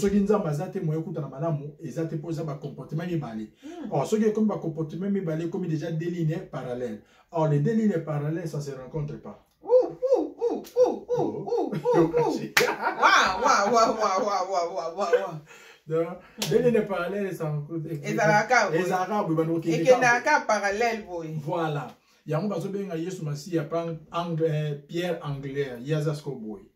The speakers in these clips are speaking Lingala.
soki nzambe aza te moye okutana malamu eza te mpo eza bacomportement mibale hmm. or soki ekomi bacomportement mibale ekomi déjà deux lignes parallèle or les deux lignes parallèles ça se rencontre pas deux lignes parallèles ezalaka boye bandokokendaka parallèle boye voilà yango bazobenga yesu masiya eh, pierre anglaire ye aza siko boye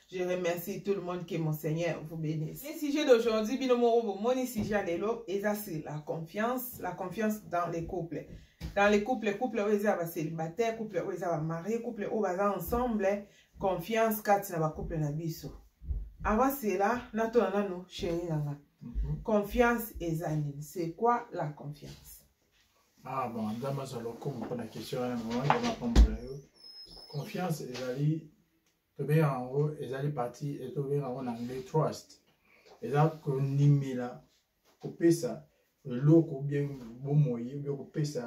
Je remercie tout le monde que mon Seigneur vous bénisse. Le sujet d'aujourd'hui, bino morobo, mon sujet lelo, eza c'est la confiance, la confiance dans les couples. Dans les couples, couple oyo eza ba célibataire, couple oyo eza ba marié, couple oyo baza ensemble, confiance kati na ba couple na biso. Avant cela, natona nanu chérie nanga. Mhm. Confiance eza nini? C'est quoi la confiance? Ah bon, ndama za lokumu pona question wana, mwa ndama pambola yo. Confiance ezali tobenga yango ezali parti e tobenga yango na anglais trust eza kondimela kopesa eloko bie bomoi bie kopesa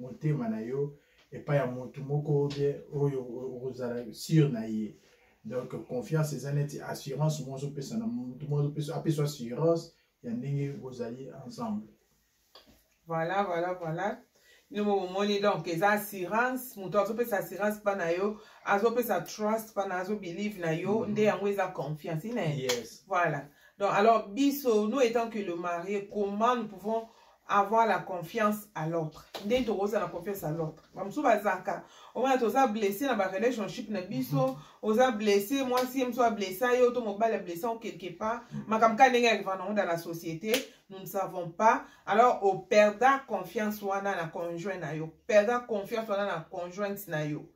motema na yo epai ya motu moko bie oyo okozala sur na ye donc confiance eza neti assurance moko ozopesa na motu moko apesa assurance ya ndenge bozali ensemble voilà voilà voilà bino bomoni donc eza assurance moto azopesa assurance mpa na yo azopesa trust mpa na azobelieve na yo mm -hmm. nde yango eza confiance ine yes. voilà donc alors biso nous étant que le marié comment nous pouvons avoir la confiance à l'autre nde tokozala na confiance à l'autre bamosusu bazalaka omona toza blesse na barelationship na biso mhm. oza blesse mwasi ye mosusu ablessa yo to mobali ablessa o quelque part mhm. makambo kaka ndenge ya livana onda na société nous ne savons pas alors operda confiance wana na conjoint na yo perda confiance wana na conjointe na yo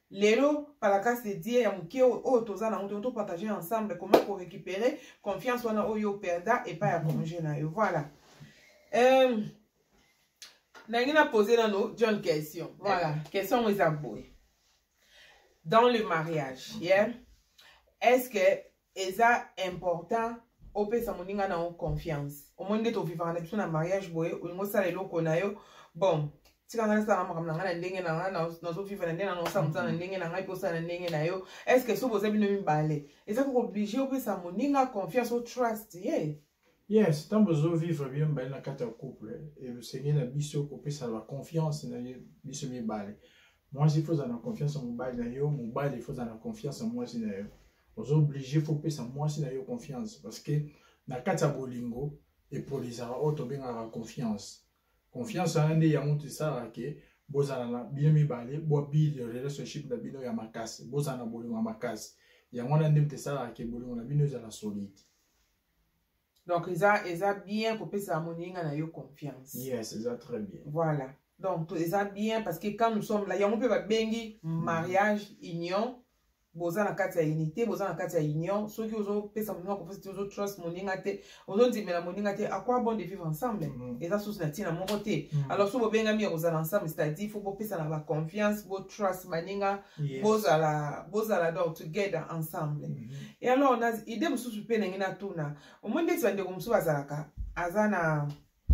lelo palakasi edie ya moke oyo toza nango te topartage ensemble koma korécupere confiance wana oyo operda epai ya conjoint na yo voilà euh, nangi na pose nano john question voilà question yango eza boye dans le mariage yeah? est ce que eza important opesa moninga na yo confiance omoni nde tovivaka na biso na mariage boye olingi osala eloko na yo bon tika ngai nasala makambo na ngai na ndenge na ngai nazoviva na ndenge na ngai osala mosala na mhm. ndenge na ngai mpe osala na ndenge na yo estce soki boza bino mibale eza kooblige opesa moninga confiance o trust ye yeah. Yes, tant bozo vivre bien bale na kati ya couple et le Seigneur na biso kopesa la confiance na ye biso mibale. Mwasi faut na confiance en mobali na yo, mobali faut na confiance en mwasi na yo. Ozo obligé faut pesa mwasi na yo confiance parce que na kati ya bolingo epolisaka oyo tobengaka confiance. Confiance wana nde yango tosalaka ke bozala na bino mibale bobili relationship na bino ya makasi, bozala na bolingo ya makasi. Yango wana nde tosalaka ke bolingo na bino ezala solide. donc eza eza bien kopesa moninga na yo confiance yes eza très bien voilà donc eza bien parce que quand nous sommes là yango mpe babengi mm. mariage union boza na kati ya unité boza na kati ya union soki ozopesa moninga kopesa te ozotrust moninga te ozondimela moninga te aquoi bon de vivre ensemble mm. eza susu na ntina moko te mm. alors so bobengami ya kozala ensemble c'est-à-dire fo bopesa na baconfiance botrust baninga yes. bozala bozala donc together ensemble mm -hmm. e alors na idée mosusu mpe nange natuna omoi ndeti bandeko mosusu bazalaka aza na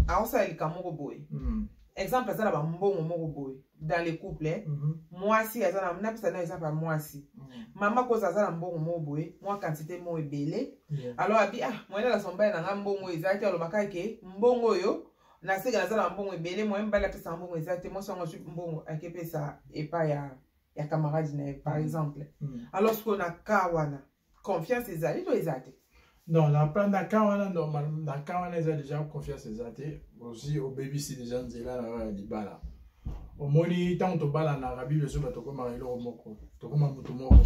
akosala lika moko boye mm -hmm. exemple aza na bambongo moko boye dans le couple mm -hmm. mwasi aza na napesa na exemple ya mwasi mm -hmm. mama koza aza na mbongo moko boye mwa quantité moko ebele yeah. alors abi ah moyen na sombaye na ngai mbongo ezalaki alobaka ke mbongo oyo na seke naza na mbongo ebele moye mobali apesaka mbongo eza te mwasi yango azwi mbongo akepesa epai ya, ya camarade na ye par mm. exemple mm. alors sikoyo na ka wana confiance ezali to eza te non na plan na ka wana normal na ka wana eza déjà confiance eza te osi obebisi déjà nzela na yo ya libala omoni ntango tobalanaka bible ezoba tokomaka eloko moko tokoma motu moko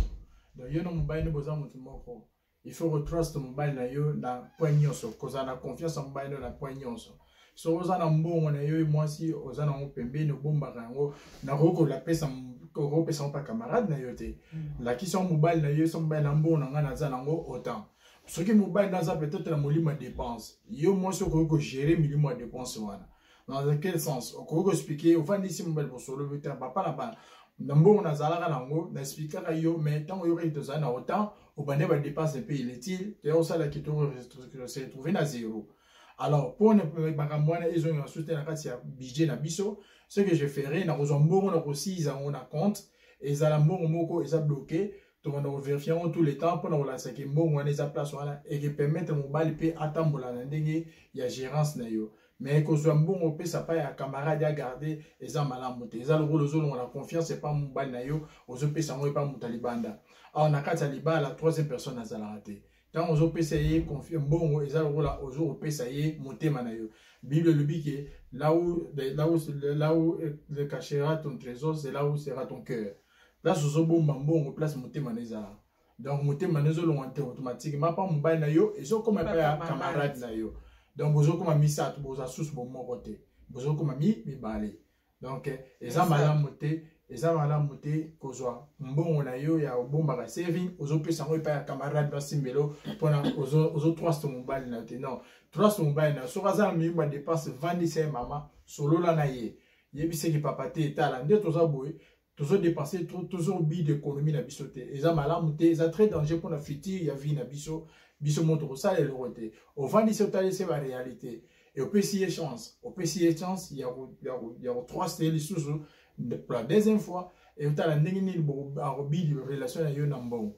donc yo na mobali nde boza motu moko il faut ko trust mobali na yo na point nyonso kozala na confiance ya mobali na yo na point nyonso soki oza na mbongo na yo mwasi oza nango pembeni obombaka yango nakoki kolapesa kopesa yango mpa camarade na yo te mm. lakisa yango mobali na yo so mobali na mbongo na ngai naza nango autant soki mobali naza peut-être na molimo ya dépense yo mwasi okoki kogere milimo ya dépense wana dans quel sens okoki koexplike ofandisi mobali bosolo bi te papa na bana na mbongo nazalaka na yango na explikaka yo mais ntango oyokaki tozali na otemp obande badepense mpe iletile toya kosala kitoko se retrouve na zero alors mpo na makambo wana ezongela susu te na kati ya budget na biso ce que je ferai nakozwa mbongo na kosiyiza yango na compte ezala mbongo moko eza bloke tokanda koverifie yango tout le temps mpona kolakisa ke mbongo wana eza place wana ekepermettre mobali mpe atambola na ndenge ya gérance na yo mais kozwa mbongo opesa pa ya camarade ya garde eza malamu te eza lokola ozolonga na confiance epa mobali na yo ozopesa yango epa moto ya libanda awa na kati ya libala troisième personne azalaka te ntango ozopesa ye mbongo eza lokola ozokopesa ye motema na yo bible elobi ke là où, là où, là où le cachera ton trésor c'est là où sera ton cœur place ozobomba mbongo place motema na ezala donc motema na ezolongwa te automatiquement mpa mobali na yo ezokoma epai ya camarade na yo donc bozokoma misato boza susu bomoko te bozokoma mi mibale donc eh, eza malamu te eza malamu te kozwa mbongo na yo ya obombaka saving ozopesa yango epai ya camarade basimbelo mpona ozotrust mobali na yo te non trust mobali na yo soki aza na miyibu ya dépense vandisa ye mama solola na ye yebiseki papa te etala nde toza boye tozo dépenser trop tozo bi d'économie na biso te eza malamu te eza très danger mpona futur ya vie na biso biso mo tokosala eloko te ovandi se otali se baréalité e opesi ye chance opesi ye chance ya kotrust ye lisusu pour la deuxième fois e otala ndenge nini akobidi relation na yo na mbongo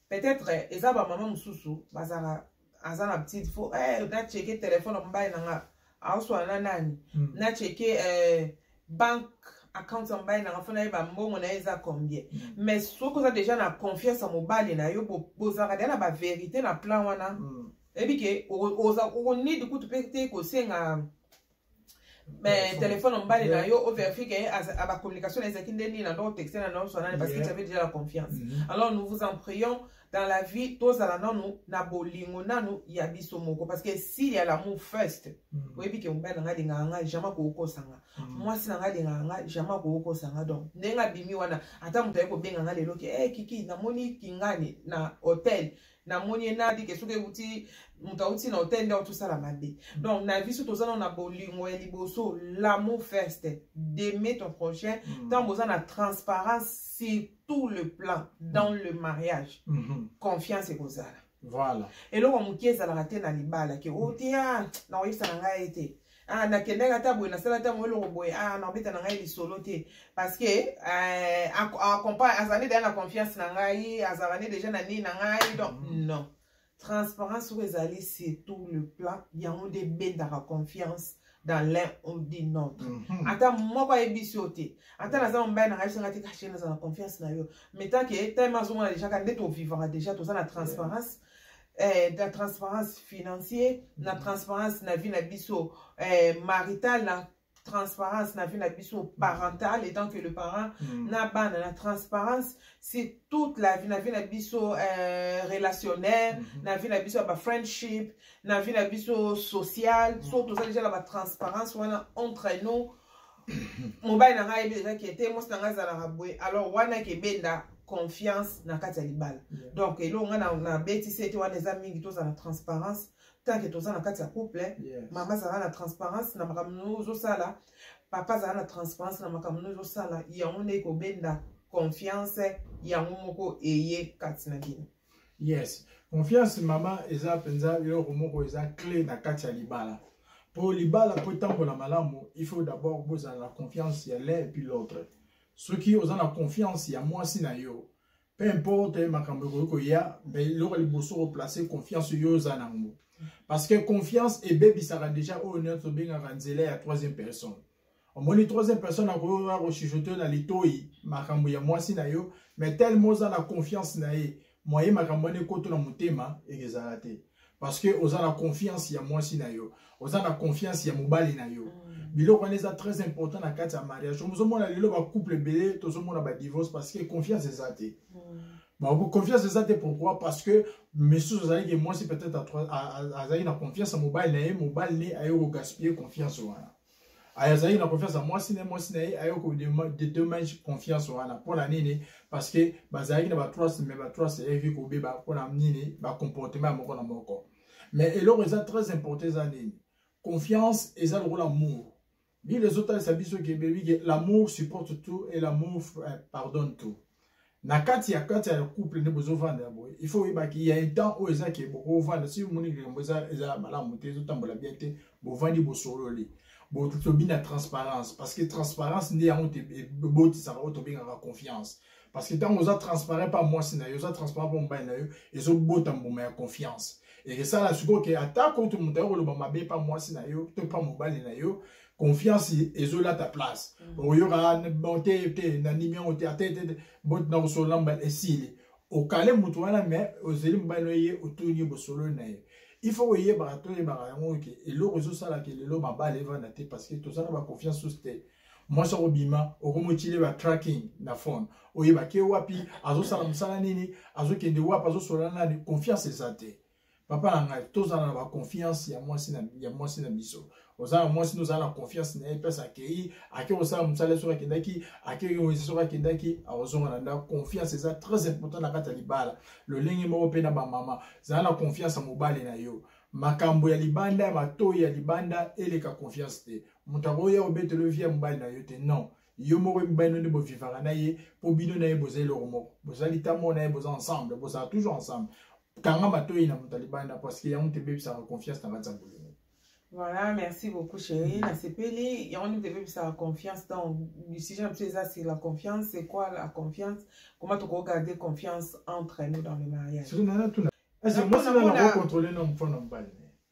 peut-être eza ba maman mususu bazala aza na petite faut eh na checker téléphone ya mobali na nga aoswa na nani mm. na checker eh, banque account ya mobali nanga mpo nayeba mbongo na ye eza combien mm. mais soki oza déjà na confiance ya mobali na yo bozalaka deja na baverité na plan wana mm. eyebi ke okonidi kutu mpe te kosenga mais téléphone mobali na yo o verifie ke ba communication ezalaki nde nini na ndoko texte na ndoko swanani parce que j'avais déjà la confiance mm-hmm. alors nous vous en prions dans la vie tozala nanu na bolingo nanu ya biso moko parce que si ya l'amour first mm. oyebi ke mobali na ngai alingaka ngai jamais kokokosa nga mm. mwasi na ngai alingaka ngai jamais kokokosa nga donc ndenge abimi wana ata moto aye kobenga ngai lelo ke e eh, kiki namoni kingani na hotel namoni ye nadi ke soki euti moto auti na hotel nde auti osala mabe donc na biso toza nao na bolingo ya liboso l'amour first d'aimer ton prochain ntango hmm. boza na transparence sur tout le plan dans hmm. le mariage hmm. confiance ekozala voilà eloko moke ezalaka te na libala ke oteya oh, nakoyebisa na ngai ete ah, nakendaki ata boye nasala ata moye eloko boye ah, nakobeta na ngai lisolo te parce que eh, azali deja na confiance na ngai azalaka nde deja na nini na ngai donc mm. non transparence oyo ezali surtout le plan yango nde ebendaka confiance dans l'un ou d'une autre mhm. ata moko ayebisi yo te ata naza mobali nanga yebisanga te kashe naza na confiance na yo mais tant que time azomona déjà ka nde tovivaka déjà toza na transparence eh, na transparence financier na transparence na vie na biso eh, marital na transparence na vie na biso mm. parentale étant que le parent mm. na bana na transparence c'est toute la vie na vie na biso euh, relationnelle mm -hmm. na vie na biso ya ba friendship na vie na biso sociale mm. so toza déjà na ba transparence wana entre nous mobali na ngai ayebi deja ke te mwasi na ngai azalaka boye alors wana ekebenda confiance na kati ya libala donc eloko ngai nabetisi ete wana eza mingi tozala transparence tanke toza na kati ya couple mama azala na transparence na makambo nini ozosala papa azala na transparence na makambo nini ozosala yango nde ekobenda confiance yango moko eye kati na bino yes confiance mama eza mpenza eloko moko eza clé na kati ya libala mpo libala mpo etambola malamu il faut d'abord bozala na confiance ya l'un epuis l'autre soki oza na confiance ya mwasi na yo peu importe makambo ekoki koya mais eloko liboso koplace confiance yo oza nango parce que confiance ebebisaka déjà oyo nyonso tobengaka nzela ya troisième personne omoni troisième personne akoyoka kochuchote na litoi makambo ya mwasi na yo mais telema oza na confiance na ye moye makambo wana ekoto na motema ekezala te parce que oza na confiance ya mwasi na yo oza na confiance ya mobali na yo mm. biloko wana eza très important na kati ya mariage omozomona lelo bacouple ebele tozomona badivorce parce que confiance eza te mm. bon, confiance eza te pourquoi parce que misusu azalaki mwasi peut-être azalaki na confiance ya mobali na ye mobali ne aye kogaspille confiance wana aya azalaki na confiance ya mwasi na mwasi na ye aye kodedomage confiance wana mpo na nini parce que bazalaki na batrust mais batrust eyebi kobeba mpo na nini bacomportement ya moko na moko mais eloko eza très important eza nini confiance eza lokola amour bile ezotalisa biso ke bebi ke l'amour supporte tout et l'amour euh, pardonne tout na kati ya kati ya couple nde bozovanda ya boye il faut oyebaki ya un temps oyo eza ke bokovanda si omoni likambo eza malamu te ezotambola bien te bovandi bosololi tobi na transparence parce que transparence nde yango ebotisaka oyo tobengaka confiance parce que ntango oza transparent mpa mwasi na yo oza transparent mpa mobali na yo ezobota mbuma ya confiance ekesala sikoyo ke atako to moto ayo koloba mabe mpa mwasi na yo to mpa mobali na yo confiance ezolata place mm. oyoka te te nandimi yango te ate te botina kosolola mbala esili okale motu wana me ozeli mobali no ye otuni bosololi na ye il faut koyebaka toyebaka yango ke eloko ezosala ke lelo mabala evanda te parce que toza na baconfiance sus te mwasi akobima okomotile ba tracking na phone oyebaki wapi azosala mosala nini azokende wapi azosolola nani confiance eza te papa na ngai tozala na baconfiance ya mwasi na, ya mwasi na biso oza na mwasi nozala na confiance na ye place akei ake kosala mosala soki akendaki akei oyo soki akendaki akozonga na ndako confiance eza très important na kati ya libala lolenge moko mpe na bamama zala na confiance ya mobali na yo makambo ya libanda matoi ya libanda eleka confiance te moto akoya obetelo vi ya mobali na yo te non yo moko oyebi bino nde bovivaka na ye mpo bino na ye boza eloko moko boza litamo na ye boza ensemble bozala toujours ensemble kanga matoyi na moto ya libanda parce que yango te ebebisaka confiance na kati ya bolingo Voilà, merci beaucoup chérie. La CPLI, on nous devait la confiance. Donc, le sujet c'est la confiance. C'est quoi la confiance Comment tu peux garder confiance entre nous dans le mariage C'est moi, c'est là contrôler non, faut non pas.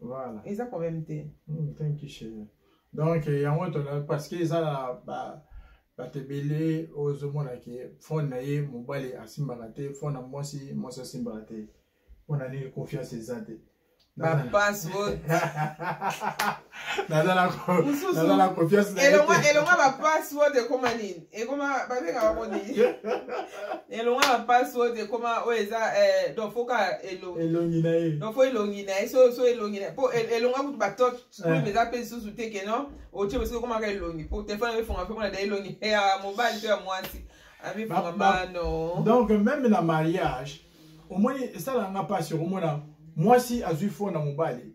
voilà eza problème te mm, thank you chérie donc eh, yango tona parce que eza na ba bato ebele oyo ozomona ke fone na ye mobali asimbaka te fone na mwasi mwasi asimbaka te mpo na nini confiance eza te bapassword naza na confiance elongwa bapassword ekoma nini ekoma babengaka ngo nini elonga na mpasi oyo ekoma oyo eza eh, donc fo kaka elongi na ye donc fo elongi na ye so elongi na ye mpo elonga kutu batoche screen eh. eza mpe lisusu te ke non otie mosuku ekomaka elongi mpo telefone abefonga mpe mona da elongi ya mobali to ya mwasi abefonga mano donc meme na mariage omoni esalanga mpasi okomona mwasi azwi fo na mobali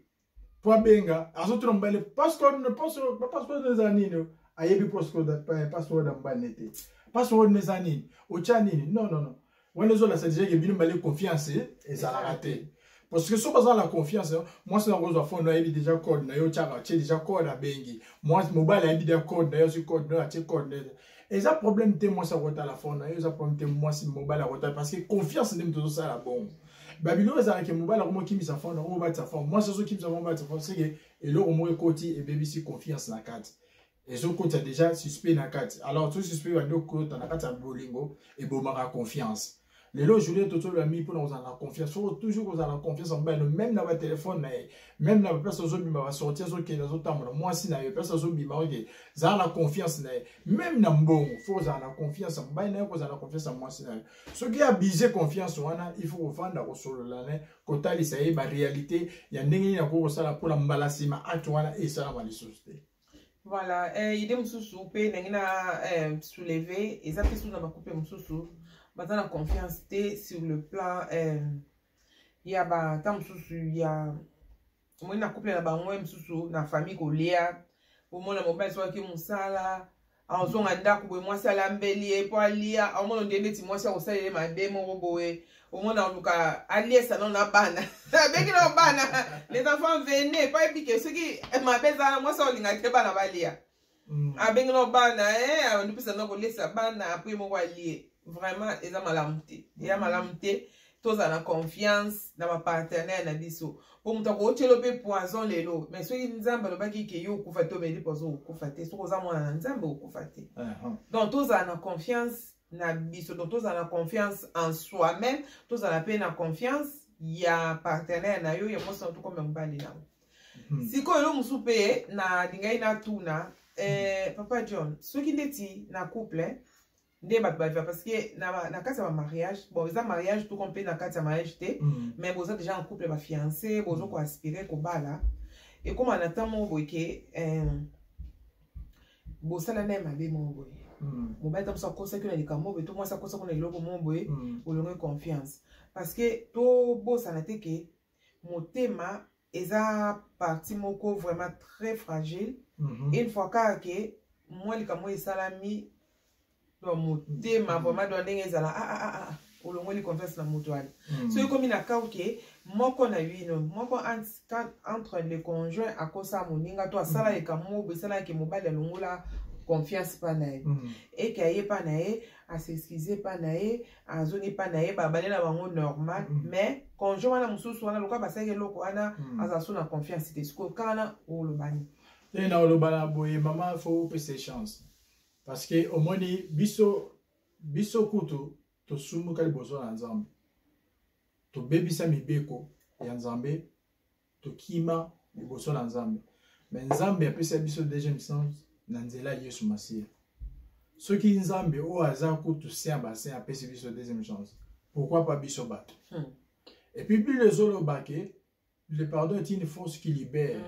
po abenga azotuna mobali password na password ba password eza nini ayebi password password ya mobali ne te password na eza nini otya nini non non non wana ezolakisa deja ke bino mibale confiance ezalaka te parce que soki baza na confiance mwasi yango ozwa fone ayebi deja code na yo otyaka atye deja code abengi mwasi mobali ayebi deja code na yo azwi code na yo atye code na eza problème te mwasi akotala fon na yo eza problème te mwasi mobali akotala parce que confiance nde moto ozosala bongo babilo oyo ezalaki mobali akomi okimisa fon na oyo batisa fon mwasi ozokimisa fon batisa fon seke eloko moko ekoti ebebisi confiance na kati ezokotisa déjà suspect na kati alors to suspect bandi okota na kati ya bolingo ebomaka confiance lelo journée totolola mingi mpona kozala na confiance soko toujours kozala na confiance ya mobali no meme na batelefone na ye meme na baplace azobima basorti azokende azotambola mwasi na ye place azobima oke zala na confiance na ye meme na mbongo fo kozala na confiance ya mobali na ye kozala na confiance ya mwasi na ye soki abuse confiance wana il faut kofanda kosolola na ye kotalisa ye barealité ya ndenge nini akoki kosala mpona mbala nsima acte wana esalama lisusu te voilà eh, idée mosusu mpe ndenge na eh, souleve eza mpe susu na bakupe mosusu baza na confiance te sur le plan eh, ya bata mosusu ya omoni na couple na bango ye mosusu na famille kolea omona mobali soki mosala azonga ndako boye mwasi alambeli ye mpo alia omona onde ndeti mwasi akosalela ye mabe moko boye omona oluka aliesa no na bana abeki na bana les enfants vene pa ebike soki mabe ezala mwasi aolinga te bana balia mm. abengi na bana eh, abandi mpesa na kolesa bana apres moko alie vraiment eza malamu te eya malamu te tozala na confiance na bapartenere na biso mpo moto akootyelo mpe poison lelo mai soki nzambe alobaki ke yo okufa te omeli poison okufa te soki oza mwana na nzambe okufa te uh-huh. donc tozala na confiance na biso donc tozala na confiance en soi même tozala mpe na confiance ya partenaire na yo ya mwasi na tokoma mobali na yo hmm. sikoyo elo mosusu mpe nalingaki natuna eh, papa john soki ndeti na couple nde bato baviva parce que na, na kati ya bamariage bon eza mariage toko mpe na kati ya mariage te mm. mais boza déjà en couple bafiance bozo koaspire kobala ekóma na ntango moko boye ke eh, bosala naye mabe moko boye mm. mobali ntango mosusu akosaki na likambo boye to mwasi akosaki na eloko moko boye mm. olongi confiance parce que tobosana te ke motema eza partie moko vraiment très fragile mm -hmm. une fois kaka ke mwa likambo esalami do motema mhm. vraiment do ndenge ezala ah, ah, ah, ah. olongoli confiance na moto wana mm. soki ekomi na kau ke moko na bino moko entre le conjoint akosa moninga to asala mm. likambo moko boesalaki mobali alongola confiance epai na ye mm. eke aye epai na ye asexcuse epai na ye azongi epa na ye babale na bango normal mm. mais conjoint wana mosusu wana lokola basalaki eloko wana mm. azala so na confiance te sikoyo kaka wana olobani te na oloba na boye mama fo opesa chance parce que omoni biso biso kutu tosumuka liboso na nzambe tobebisa mibeko ya nzambe tokima liboso na nzambe me nzambe apesa biso deuxième sens na nzela ya yesu masiya soki nzambe oyo aza kutu se ya basin apesi biso deuxième chance pourquoi pas biso bato hmm. epuis bile ezoloba ke le pardon est une force qui libère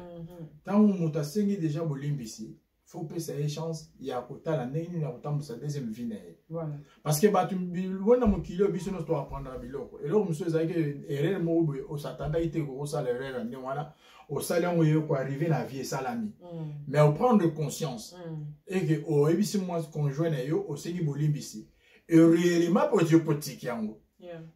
ntango mm -hmm. moto asengi deja bolimbisi faut pesa ye chance ya kotala ndenge nini akotambusa deuxième vie na ye parce que bato bona mokili oyo biso nyonso toapprendaka biloko eloko mosusu ezalaki erreur moko boye osatandaki te kokosala erreur ya ndenge wana osali yango ye koarrive na vie esalami mm. mais oprendre conscience mm. eke oyebisi mwa conjoint na yo osengi bolimbisi ereellement potiki yango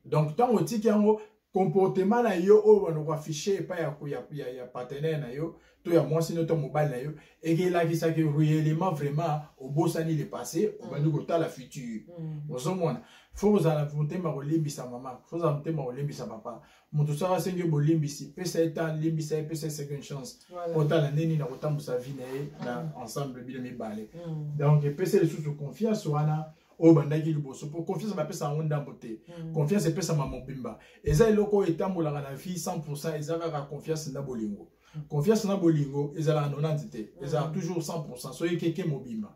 donc ntango otiki yango comportement na yo oyo bana koaffiche epai ya, ya, ya, ya partenaire na yo to ya mwasi no to mobali na yo ekelakisaki réellement vraiment obosani le passé obandi mm. kotala futur mm. ozomona fo kozala motema kolimbisa mama fo kozala motema kolimbisa papa moto soki asengi yo bolimbisi pesa ye temps limbisa ye pesa ye second chance otala nde nini akotambusa vie na ye na mm. ensemble bino mibale donc epesa lisusu confiance wana oyo bandaki liboso mpo confiance bapesa yango ndambo te mm. confiance epesama mobimba eza eloko oyo etambolaka na vie 100 eza kaka confiance na bolingo mm. confiance na bolingo ezalaka 90 te mm. ezalaka toujours 100 soki keke mobimba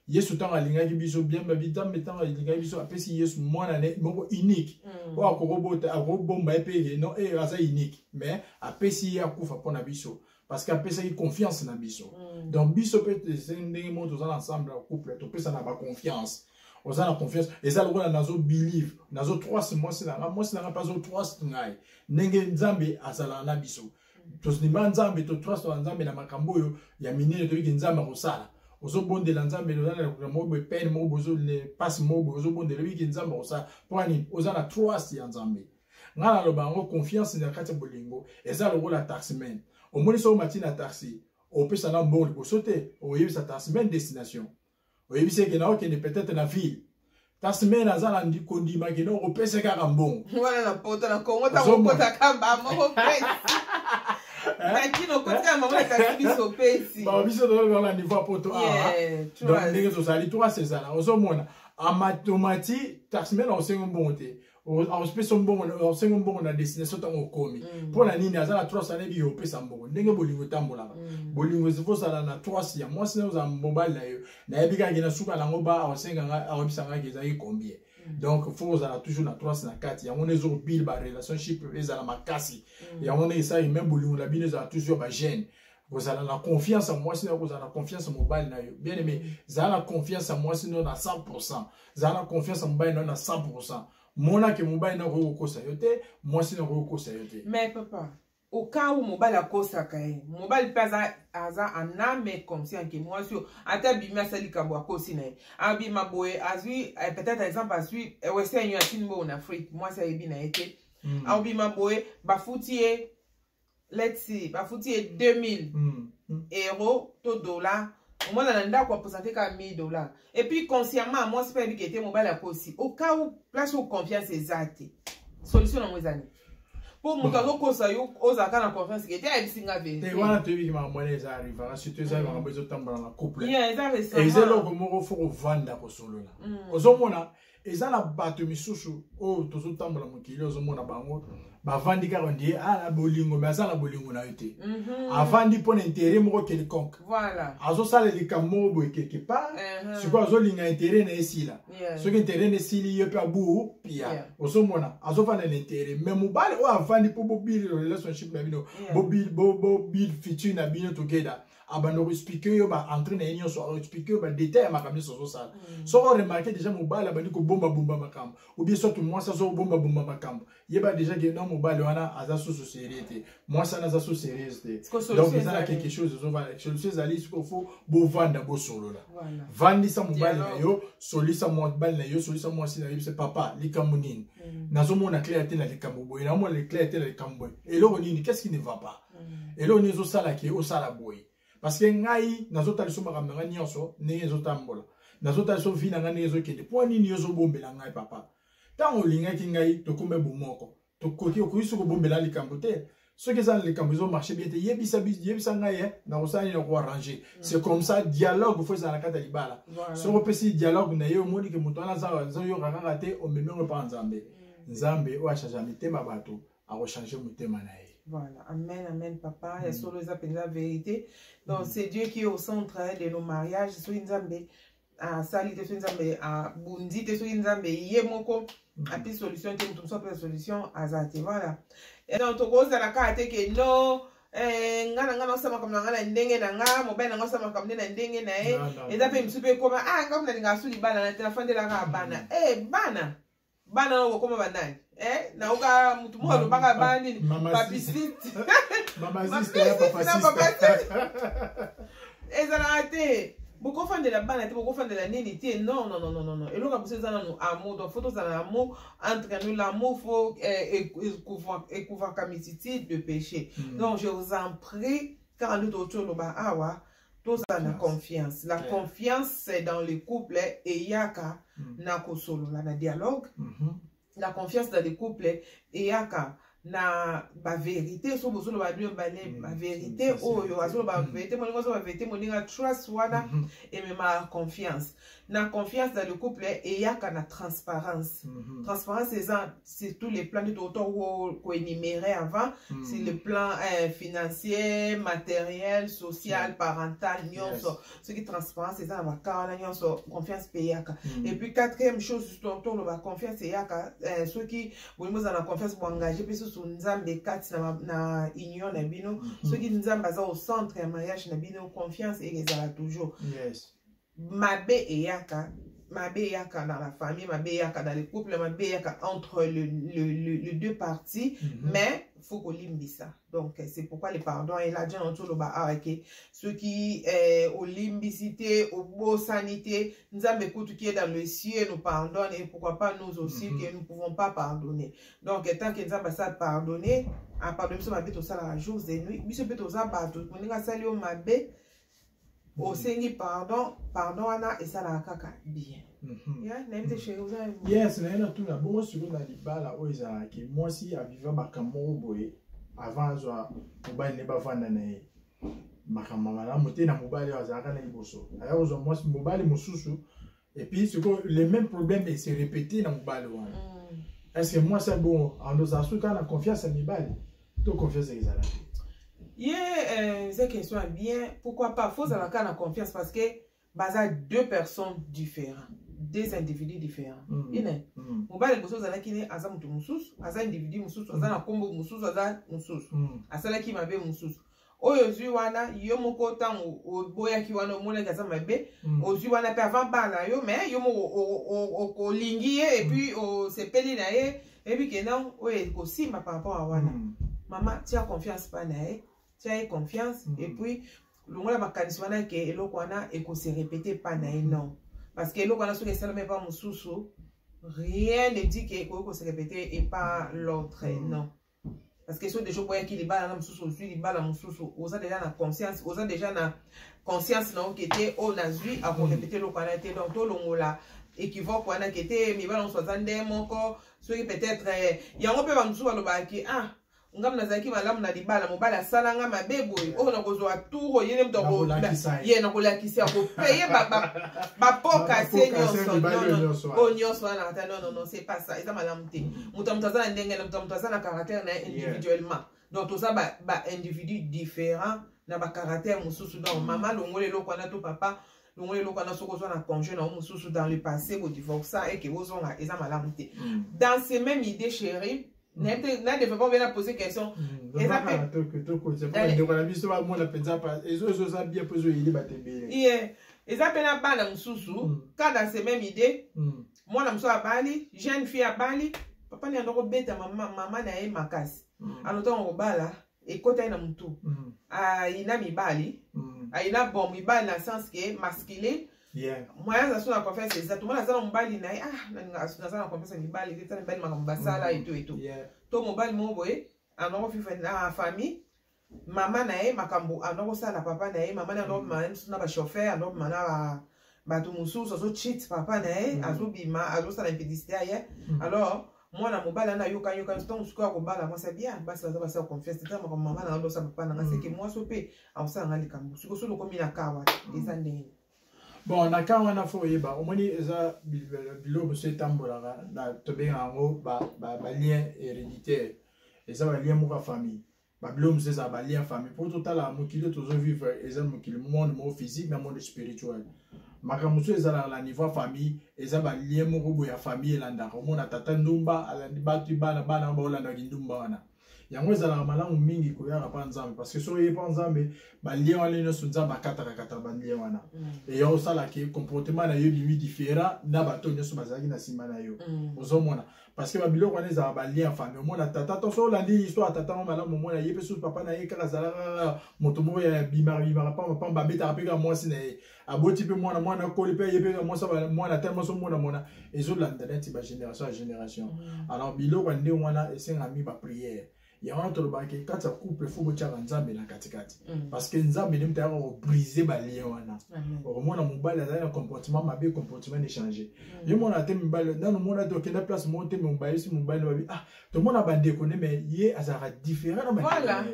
yesu ntango alingaki biso biamba bitambe ntango alingaki biso apesi yesu mwana ne moko unique mm. oyo akokobota akokobomba ye mpe no e aza unique mais apesi ye akufa mpo na biso parce que apesaki confiance na biso mm. donc biso mpe ndenge moko toza na ensemble ya couple topesana baconfiance oza na confiance eza lokola nazo believe nazo trust mwasi na ngai mwasi na ngai mpe azo trust ngai ndenge nzambe azalaka na biso tondima nzambe totrustaka nzambe na makambo oyo ya minene toyiki nzambe akosala ozobondela nzambe ozalaka moko boye pene moko boye mpasi moko boye ozobondela oyiki nzambe akosala mpo nini oza na trust ya nzambe ngai naloba yango confiance na kati ya bolingo eza lokola taximen omoni soko mati na taxi opesa nga mbongo liboso te oyebisa taximen destination oyebisi eke na okende peut-être na ville taximen aza na kondima kende okopesa kaka mbongo wana na poto na kongo ntango okotaka bamoko pesi nakino okotika mama na taxi biso pesi biso tozolala niveau ya poto awa donc ndenge tozali trois ezala ozomona amatomati taximen akosengi mbongo te aopesa mbongo osengi mbongo na destination ntango okomi mm. mpo na nini aza na trois ane biyo opesa mbongo ndenge bolingo etambolaka mm. bolingo ezifo ozala na trois ya mwasi na ozala mobali na yo nayebi kaki na suka nango ba aosenga nga aoyebisa ngaki ezalaki combien mm. donc fo ozala toujours na trois na kati yango nde ezokobile barelationship ezala makasi yango nde esali meme bolingo na bino ezala toujours bagene kozala na confiance ya mwasi na yo kozala na confiance ya mobali na yo bien aimé zala na confiance ya mwasi na yo na 100 zala na confiance ya mobali na yo na 100 mona ke mobali na okoki kokosa yo te mwasi na okoki kokosa yo te mais papa okau mobali akosaka ye mobali mpe aza aza aname conscient ke mwasi oyo ata abimi asali likambo akosi na ye abima boye azwi eh, peut-être exemple azwi eh, wese yanyo atini boyo na afrique mwasi ayebi na ye te mm. abima boye bafuti ye let's see bafuti ye 2000 mm. mm. euro to dollar omwana na ndako aposante kaka 1000 dollar epuis consciemment mwasi mpe ayebiki ete mobali akosi okau place oyo confiance eza te solution nango eza nini mpo moto azokosa yo ozalaka na confiance ke te ayebisi nga verite wana toyebi makambo mwana eza arrivaka surtout eza mm. makambo ezotambola na couple eza eloko moko fo kovanda kosolola mm. ozomona eza na bato misusu oyo tozotambola mokili ozomona bango bavandi kaka ndiye ah, na bolingo me aza na bolingo na yo te mhm. avandi mpo na intere moko quelconque azosala likambo moko boye quelque part mhm. sikoyo azolinga intere na esila soki intere na esili ye mpe abu pia ozomona azovanda na intere me mobali oyo avandi mpo bobil relationship na bino bobil future na bino together abanda koexplike yo baentre na ye nyonso aexplike yo badetail ya makambo nyonso azosala mm. soko remarke déjà mobali abandi kobombabomba makambo obie soki mwasi azo kobombabomba makambo yeba déjà ke non mobali wana aza susu serie te mwasi wana aza susu serieuse te donc eza na quelque chose ezovanda solution ezali siko fo bovanda bosolola vandisa mobali na yo solisa mobali na yo solisa mwasi na yo se papa likambo nini mm. nazomona claire te na likambo boye naomona claire te na likambo boye eloko nini qu'est ce qui ne va pas mm. eloko nini ezosala ke osala boye parce que ngai nazotala biso makambo na ngai nyonso ndenge ezotambola nazotala biso vi na ngai ndenge ezokende mpo nini yo ozobombela ngai papa ntango olingaki ngai tokoma bomoko tokoki okoki soki kobombela likambo te soki eza na likambo ezomarche bien te yebisa yebisa ngai eh, nakosala nini nakoarrange mm. c'est comme ça dialogue fo ezala na kati ya libala soki opesi dialogue na ye omoni ke moto wana azoyoka kaka te omemi yango epa nzambe mm. nzambe oyo achange mitema bato akochange motema na ye Voilà, amen, amen, papa. Mm. Ya solo eza penza vérité. Donc, mm. c'est Dieu qui est au centre hein, de nos mariages. Soki nzambe asali te, soki nzambe abundi te, soki nzambe ye moko mm. api solution te, mutu mosusu apesa solution aza te. Voilà. Et donc, tokozala kaka te ke non, eh, nga na nga naosa makambo na nga na ndenge na nga mobali na nga osa makambo nde na ndenge na ye eza mpe misu mpe ekoma a ah, nga mnalinga asu libala na te nafandelaka bana e bana bana yango kokoma banani eh, naoka motu moko alobaka bana nini papisiste ezalaka te bokofandela bana te bokofandela nini te non non non non non eloko ya biso eza nanu amour donc fo tozala na amour entre nous l'amour fo eh, ekouvaka misiti de péché hmm. donc je vous en prie kaka nde tootoloba awa tozala na confiance la confiance dans le couple eyaka mm. na kosolola na dialogue mm-hmm. la confiance dans le couple eyaka na baverité so bozoloba bino bane mm. baverité oyo azoloba verité moninga azoba verité moninga trust wana mm-hmm. ememaka confiance na confiance dans le couple eyaka na transparence mm -hmm. transparence eza sur tous les plans nde toko koénuméré avant mm -hmm. sur le plan euh, financier matériel social mm -hmm. parental nyonso yes. soki transparence eza na baka wana nyonso confiance mpe eyaka mm -hmm. et puis quatrième chose toloba confiance eyaka euh, soki bolingi ozala na confiance boengage mpe susu nzambe kati na, na union na bino mm -hmm. soki nzambe aza au centre ya mariage na bino confiance ezala toujours yes. mabe eyaka mabe eyaka dans la famille mabe eyaka dans le couple mabe eyaka entre le, le, le, le deux parties mm -hmm. mais faut kolimbisa donc c'est pourquoi le pardon est là dieu na toloba awa ke soki eh, olimbisi te obosani te nzambe kutu qui est dans le ciel nous pardonne et pourquoi pas nous aussi mm -hmm. que nous pouvons pas pardonner donc tant que nzambe asala pardonner apardonne biso mabe tosalaka jours et nuit biso mpe toza bato moninga asali yo mabe osengi pardon pardon wana esalaka kaka bien mhm. yes naye natuna bongo siko na libala oyo ezalaki mwasi aviva makambo moko boye avant azwa mobali ne bavanda na ye makambo malamu te na mobali oyo azalaka na liboso aya kozwa mwasi mobali mosusu et puis sikoyo le même problème ese répété na mobali wana mm. est ce que mwasi abongo andoza soki kaka na confiance ya mibali to confiance ezala te ye euh, eza question ya bien pourquoi pas fozala kaka na confiance parce que baza deux personnes différents deux individus différents mm. ine mm. mobali liboso ozalaki ne aza moto mosusu aza individu mosusu aza na nkombo mosusu aza mosusu mm. asalaki mabe mosusu oyo ozwi wana yo moko ntango oboyaki wana omonaki aza mabe mm. ozwi wana mpe avant bana na yo mais yo moko olingi ye epuis mm. osepeli na ye eyebi ke non oyo ekosimba par rapport a wana mm. mama tia confiance mpa na ye tia ye confiance mm. epuis longola makanisi wana ke eloko wana ekose repete mpa na ye non parce que eloko wana soki esalami epa mosusu rien ne dit ke ekoki kose repete epa l'autre mm. non parce que soki deja oboyaki libala na mosusu ozwi libala mosusu oza deja na conscience oza deja na conscience na yo ke te oyo nazwi akorepete eloko wana te donc tolongola équivoque wana ke te mibala mosusu aza nde moko soki peut-être eh, yango mpe bamosusu balobaka ke ah ngai nazalaki malamu na libala mobali asala ngai mabe boye oyo nakozwa tour oyele moto ye nakolakisa ya kopeye bapoka se nyonso oyo nyonso wana ata nonono se pas ça eza malamu te moto ya moto aza na ndenge na moto ya moto aza na caractère na ye individuellement donc toza baindividu ba différent na bacaractère mosusu donc mm. mama longola eloko wana to papa longola eloko wana soki ozwa na congé na yo mosusu dans le passé kodivorsa eke ozonga eza malamu te mm. dans ce même idée chérie na developpement mpe na pose question eza mpendaeko na biso bamona mpenza ezo ezoza bien mpo ezoyeli bato ebele eza mpe na bana mosusu ka dans ce même idée mwana mosusu abali jeune fille abali papa nde andoko beta mama, mama na ye makasi mm. ano ntango kobala ekota ye na motu mm. ayina ah, mibali mm. ayina ah, bon mibali na sens ke masculin yeah. moyen aza so na confiance eza tomona aza na mobali na ye ah naza na confiance ya mibali te tala mibali makambo basala mm. eto eto yeah. to mobali moko boye anoko fifa na famille mama na ye makambo ando kosala na papa na ye mama na ye andobima mm. na ye mosusu na bachauffeur andobima na ba bato mosusu azochit papa na ye mm. azobima azosala impidicité ya ye mm. alors mwana mobali ana yoka yoka ntango mosuku ya kobala mwasi ya bien basi baza basala confiance ntango makambo mama na andosala papa na nga seke mwasi o mpe akosala nga likambo soki osoki okomi na kawa eza ndenge bon na kan wana fo oyeba omoni eza biloko mosusu etambolaka tobengaka yango balien héréditaire eza balien moko ya famille babiloko mosusu ezala balie ya famille mpo totala mokili tozovivre eza mokili monde moko physique na monde spirituel makambo mosusu ezalaka na niveau ya famille eza balie moko boye ya famille elandaka omona tata ndumba alandi batu bana bana baolandaka kindumba wana yango ezalaka malamu mingi koyaka mpa nzambe parce que soki oye mpa nzambe balie wana nyonso nzambe akatakakata balie wana mm. eya osalaki comportement na yo bimi différent na bato nyonso bazalaki na nsima na yo mm. ozomona mm. parce que babiloko wana ezala balien ya famille omona tata to so olandi histoire tata yango malamu omona ye mpe soki papa na ye kaka azalaka moto moko ya bimaka bimaka pamba pamba abetaka mpe kaka mwasi na ye aboti mpe mwana mwana akoli mpe ye mpe kaka mwasi mwana te mwasi omona mona ezolanda neti bagénération ya génération mm. alors biloko ya ndenge wana esengami baprière yango wana tolobaka ke kati ya couple fo botyaka nzambe na katikati mm. parce que nzambe nde moto ayaka kobrise balien wana okomona mobali azali na comportement mabe comportement ne change mm. ye mona te mibali nano mona te okenda place moko te mobayisi mobali babi ah tomona bandeko nde mai ye azalaka différent na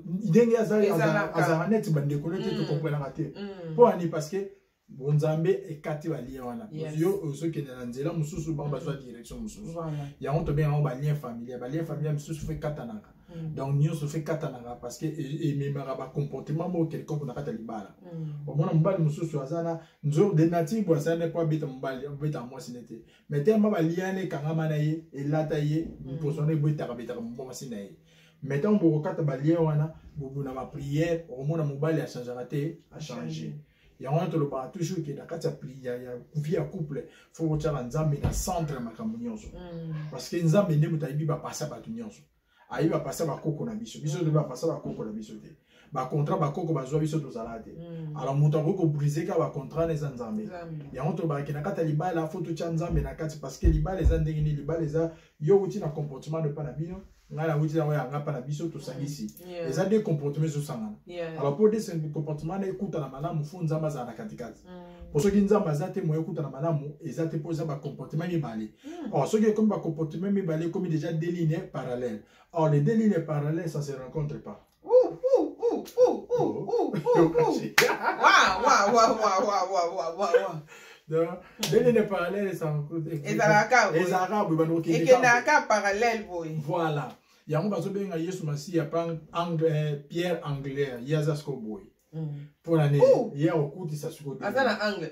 ndenge azalaka neti bandeko nde te mm. tokomprenaka te mpo ani parce que bonzambe ekati balien wana yo ozokende na nzela mosusu bango bazwa mm. direction mosusu yango tobenga yango balien familial balien familial mosusu fo ekatanaka mm. donc nyonso fo ekatanaka parce que e, ememaka bacomportement moko quelconque na kati ya libala mm. omona mobali mosusu aza na nzor de nature bo asala nde po abeta mobali abeta mwasi ne te mais tellement balien wana ekangama na ye elata ye mposo wana ebetaka betaka mwasi na ye mais ntango bokokata balien wana bobuna bapriere okomona mobali achangaka te achange yango wana tolobaka toujours ke na kati ya vie ya couple fo kotyaka nzambe na centre ya makambo nyonso mm. parce que nzambe nde moto ayebi bapasi ya bato nyonso ayebi bapasi ya bakoko na biso biso toyebi bapasi ya bakoko na biso te bacontrat bakoko bazwa biso tozala te mm. alors moto akoki kobrise kaka bacontrat na eza nzambe yango tolobaka ke na kati ya libala fo totya nzambe na kati parce que libala eza ndenge nini libala eza yo wuti na comportement epa na bino ngai nawuti yango yanga mpa na biso tosangisi mm, eza de comportement ezosangana alors mpo de comportement na ekutana malamu fo nzambe azala na katikati mpo mm. soki nzambe aza te moye ekutana malamu eza te mpo eza bacomportement mibale mm. or soki ekomi bacomportement mibale ekomi déjà deux lignes parallèle or les deux lignes parallèle ça se rencontre pas ndenge nde parallèle ezalaka boye bandokokendaka parallèle boye voilà yango bazobenga yesu masiya eh, pierre anglaire ye aza siko boye mpo na nini ye akokutisa siko aza na angle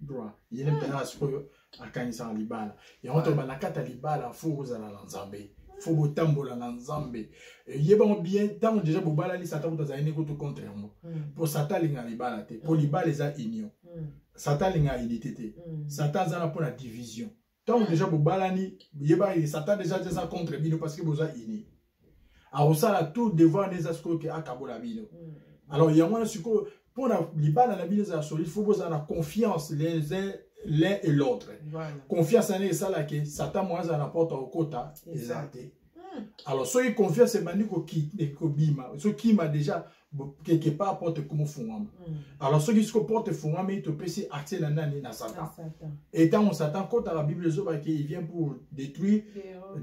droit ye nde mpenza na sikoyo akanisaka libala yango to banakata libala fo kozala na nzambe fo botambola na nzambe yebango bien ntango deja bobalani satan kutu azali nekutu contre yango mpo hmm. satan alinga libala te mpo hmm. libala eza union hmm. satan alinga unité te satan aza na mpo na division ntango deja bobalani yeba ye satan deja aza contre bino parce que boza ini akosala tout devant nde eza sikoyo ke akabola bino mm. alors yango wana sikoyo mpo na libala na bino ezala solide fo bozala na confiance les uns l'un et l'autre voilà. confiance wana esalaki satan moya azala na porte akokota eza te Hmm. Alors, soki confiance ebandi kobima, soki kima déjà quelque part porte ekomi fungwama. Hmm. Alors, soki siko porte efungwami, topesi accès na nani na Satan. Et tant on Satan kota la Bible zoba qui vient pour détruire,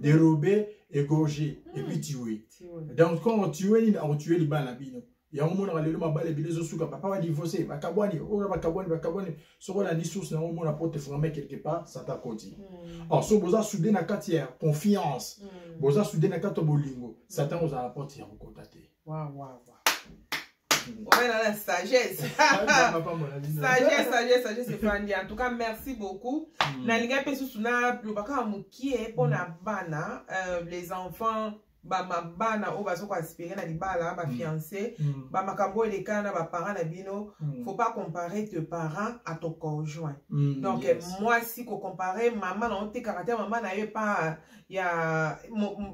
dérober, égorger et hmm. puis tuer. Donc quand on tue, on tue les bana bino. yango monaka lelo mabala ebele ezosuka papa badivorce bakabwani oyo bakabwani bakabwani soki olandi source na yango omona porte efungame quelque part sata koti hmm. or so boza soude na kati ya confiance hmm. boza soude na kati ya bolingo satan hmm. ozala na porte ya kokota te obenana sagesse sagesse sagesse sagesse efandi en tout cas merci beaucoup nalingai mpe susu naloba kaka mokie mpo na bana euh, les enfants bamabana oyo baza koaspire na libala bafiance mm. mm. bamakambo oyo elekana na baparent na bino mm. faut pas comparer te parent à ton conjoint mm, donc yes. mwasi kocompare mama na yo te caractère mama na yo epa ya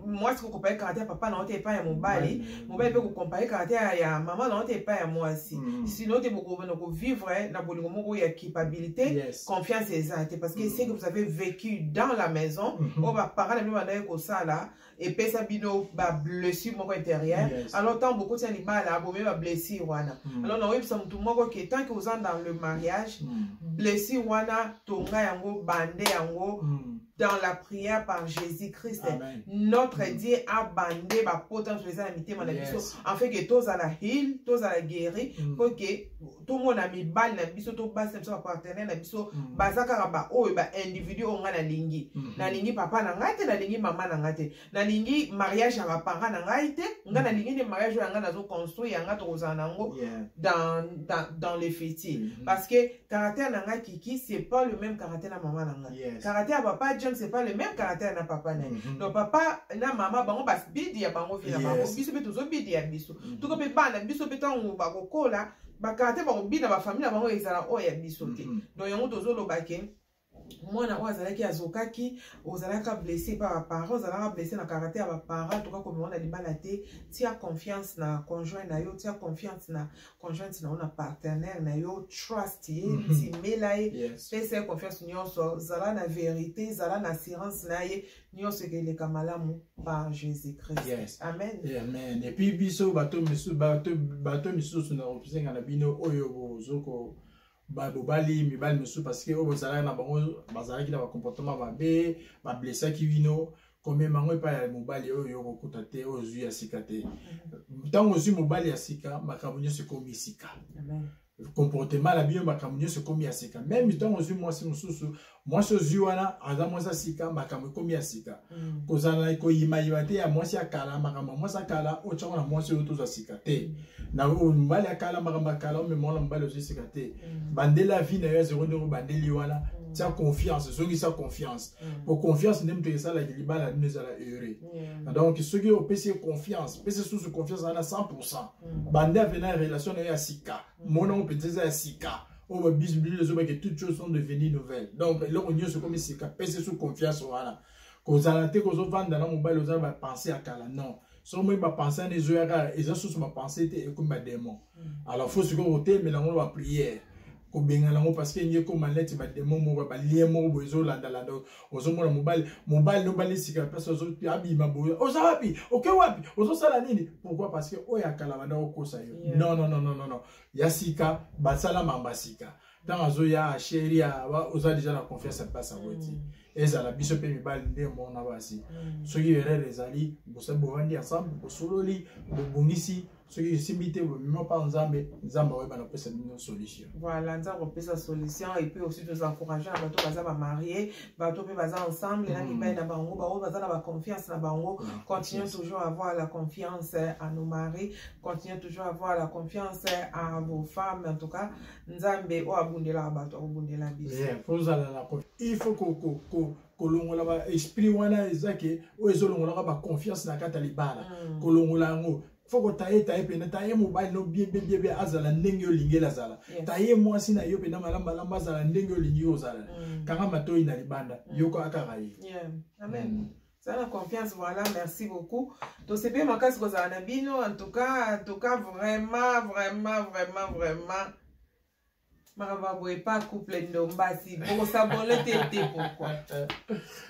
mwasi kocompare caractère papa na yo te epai ya mobali mobali mpe kocompare caractère ya mama na yo te epai ya mwasi mm. sino te bokobana kovivre na bolingo moko ya culpabilité yes. confiance eza te parce que mm. ce que vous avez vécu dans la maison mm -hmm. oyo baparent na bino bandaki kosala epesa bino bablessure moko intérieure yes. alors ntango bokoti ya libala bomei bablessure wana mm. alors nakoyebisa motu moko ke tant que oza dans le mariage mm. blessure wana tonga yango bande yango mm. dans la prière par Jésus-Christ. Notre mm. Dieu a bandé ma potence, je les ai invités, mon yes. afin que tous à la heal, tous à la guérir, mm. pour que tomona mibali na biso to basi na biso bapartenaire na biso mm. baza kaka baoyo baindividu oyo ngai nalingi mm -hmm. nalingi papa na ngai te nalingi mama na ngai te nalingi mariage ya baparent na ngai te ngai mm. nalingi nde mariage oyo ya ngai nazo construire ya ngai tokozala na yango yeah. dans, dans, dans le fiti mm -hmm. parce que caractère na ngai kiki c'est pas le même caractère na mama na ngai yes. caractère ya papa james c'est pas le même caractère na papa na ye mm -hmm. donc papa na mama bango babidi ya bango vi na yes. bango biso mpe tozobidi ya biso mm. toko mpe bana biso mpe ntango bakokola bakala te bakobina bafamile na bango ezala oyo ya biso te mm-hmm. donc yango tozoloba ke mwana oyo azalaki azokaki ozalaka blesse epa baparent ozalaka blesse na karate ya baparent toka komema na libala te tia confiance na conjoint na yo tia confiance na conjointe na yo na partenaire na yo trust ye mhm. timela ye pesa ye confiance nyonso zala na verité zala na assurance na ye nyonso ekeleka malamu par jésus christ yes. amen eh, amen epuis biso bato misusu bato, bato misusu na kosenga na bino oyo bozoko babobali mibali misusu parce que oyo bozalaki na bango bazalaki na bacomportement mabe bablesaki bino komema yango epai ya mobali oyo yo kokuta te oyo ozwi ya sika te ntango ozwi mobali ya sika makambo nyonso ekomi sika comportement na bino makambo nyonso ekomi ya sika meme ntango ozwi mwasi mosusu mwasi ozwi wana aza mwasi ya sika makambo ekomi ya sika mm. kozala koyimayima te ya mwasi ya kala makambo ya mwasi ya kala otyango na mwasi oyo tozwa sika te mm. na mobali ya kala makambo ya kala omemona mobali ozwi sika te mm. bandela vi na yo ya zero ndenge obandeli wana tia confiance ezongisa confiance po confiance nde moto esalaki libala nino ezala heureux donc soki opesi ye confiance pesi susu confiance wana 100 mm. banda avena ya relation na yo ya sika mm. mona ngo mpenza eza ya sika oyo babisi biblia ezobaki toutes choses sont devenues nouvelles donc eloko nyonso ekomi sika pese su confiance wana kozala te kozovanda na mobali oza bapense ya kala non soki moi bapense wana ezoya kaka eza susu bapense te ekomi bademon mm. alors fo sikoyo kotemela yango na bapriere kobengana yango parce que enge ekoma neti bademon moko balien moko boye ezolandalanda ozomona mobali mobali nobali sika place abima boye oza wapi oke wapi ozosala nini pourquoi parce que oyo akala banda okosa yo yeah. non non non non non ya sika basala mamba sika ntango azoya sheri oza deja na confiance ya place yango ti mm. ezala biso mpe mibali nde mona basi mm. soki erreur ezali bosali bovandi ensemble bosololi bobongisi soki esimbi te bomema mpa nzambe nzambe akoyeba na kopesa bino solution voilà nzambe akopesa solution et puis aussi toza encourage na bato baza bamarie bato mpe baza ensemble na mibai mm. na bango baoyo baza na baconfiance na bango continue toujours avoir la confiance à nos maris continue toujours avoir la confiance à vos femmes en tout cas nzambe oyo abundelaka bato akobundela biso il faut kolongola ba esprit wana eza ke oyo ezolongolaka ba confiance na kati ya libala mm. kolongola yango fo kotaye taye mpenza taye mobali no biebebiebe azala ndenge olingeli azala taye mwasi na yo mpenza malamu malamu azala ndenge olingi ozala mm. kanga matoi na libanda mm. yoko akaka ye amen mm. za na confiance voilà merci beaucoup tosepeli makasi kozala na bino en tout cas en tout cas vraiment vraiment vraiment vraiment makambo ya boye pa couple ndombasi bokosabole te te pourkoi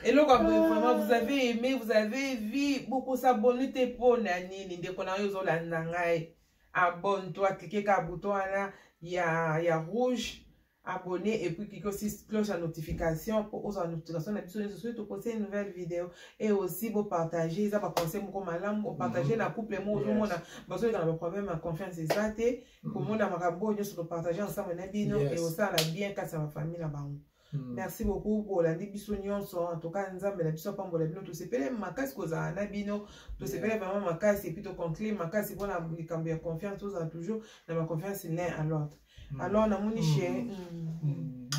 eloko ya boye vraiment vous avez aimé vous avez vie bokosabole te mpo na nini ndeko na yo ozolanda ngai abonne toi klike ka bouton wana ya, ya rouge abonné et puis cliquez aussi cloche à notification pour aux notifications na biso nyonso soki toposti une nouvelle vidéo et aussi bopartage eza baconseil moko malamu opartage mm -hmm. na couple moko ozomona yes. bazoleka na baproblème ya confiance eza te komona makambo oyo nyonso topartage ensemble na bino yes. eosala bien kati ya bafamille na bango Mm. merci beaucoup bolandi biso nyonso en tout cas nzambe na biso apambola bino tosepele makasi kozala na bino tosepele vraiment makasi epuis toconclure makasi mpona likambo ya confiance tozala toujours na baconfiance l'un à l'autre mm. alors namoni mm. chez mm. mm.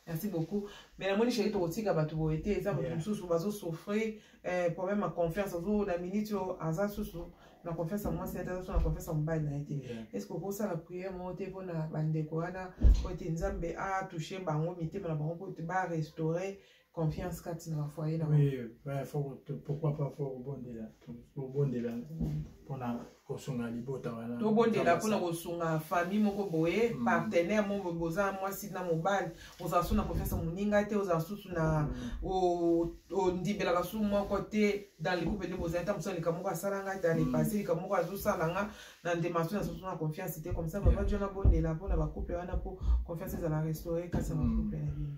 merci beaucoup mais namoni sheri tokotika bato boye te eza moto mosusu bazosouffrir eh, problème ya confiance azo na minute oyo aza susu na confiance ya mwasi ata azo na confiance ya mobali na ye te est ce que okosala priere moko te mpo na bandeko wana po ete nzambe atouche bango mitema na bango po ete barestaure confiance kati na bafoye na pourquoi pas fo kobondela kobondela mpona kosunga libota wana tobondela mpona kosunga famille moko boye mm. partenaire moko boza mwasi na mobali ozala susu na konfiance ya moninga te ozala susu na mm. ondimbelaka susu moko te dans le couple nde bozali ntango mosusu likambo moko asala ngai dans le mm. passé likambo moko azosala nga na ndema susu na susu na confiance te comme ça baba jo nabondela mpona bacouple wana mpo confiance ezala restaure kasi ya bacouple na bino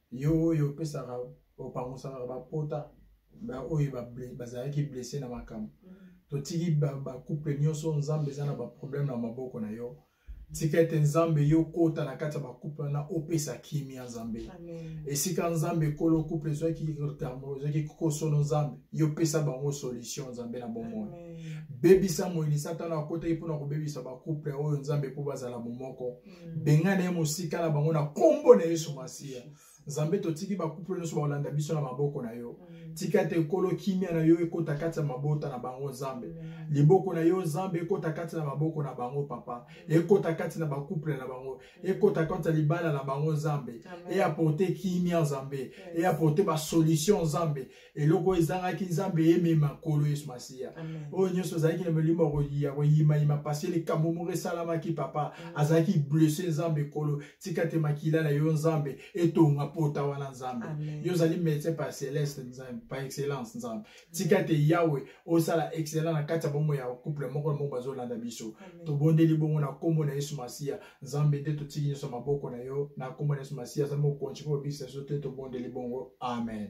yo oyo opesaka opangusaka bapota baoyo bazalaki blesse na makambo mm. totiki bacouple nyonso nzambe eza na baproblème na maboko na yo tika ete nzambe yo kota na kati ya bacouple wana opesa kimia nzambe esika nzambe ekolo couple ezwaki retarmo ezwaki kosono nzambe yo pesa bango solution nzambe na bomoi bebisa moyini satana akotaki mpona kobebisa bacouple oyo nzambe mpo bazala momoko mm. bengana ye mosika na bango na nkombo na yesu masiya nzambe totiki bakuple nyonso bakolanda biso na maboko na yo mm. tika ete ekolo kimia na yo ekota kati ya mabota na bango nzambe mm. liboko na yo nzambe ekota kati na maboko na bango papa mm. ekota kati na bakuple na bango ekota kati ya libala na bango nzambe eaporte kimia nzambe eaporte basolution nzambe eloko ezangaki nzambe emema nkolo yesu masiya oyo nyonso azalaki na molimo ya koyimayima pasi likambo moko esalamaki papa azalaki blesse nzambe nkolo tika te makila na yo nzambe etonga pota wana nzambe yo ozali médecin par celeste nzambe par excellence nzambe tika te yawe osala excellent na kati ya bongo ya couple moko na moko bazolanda biso tobondeli bongo na nkombo na yesu masiya nzambe nde totiki nyonso maboko na yo na nkombo na yesu masiya azali mokonzi mpo obikisa biso te tobondeli bongo amen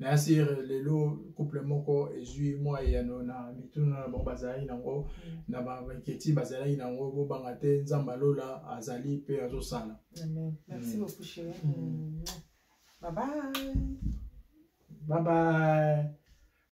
merci lelo couple moko ezwi mwa eyano na mituna na bango bazalaki nango mm. na banketi bazalaki nango bobanga te nzambe alola azali mpe azosala mm. mm. bye bye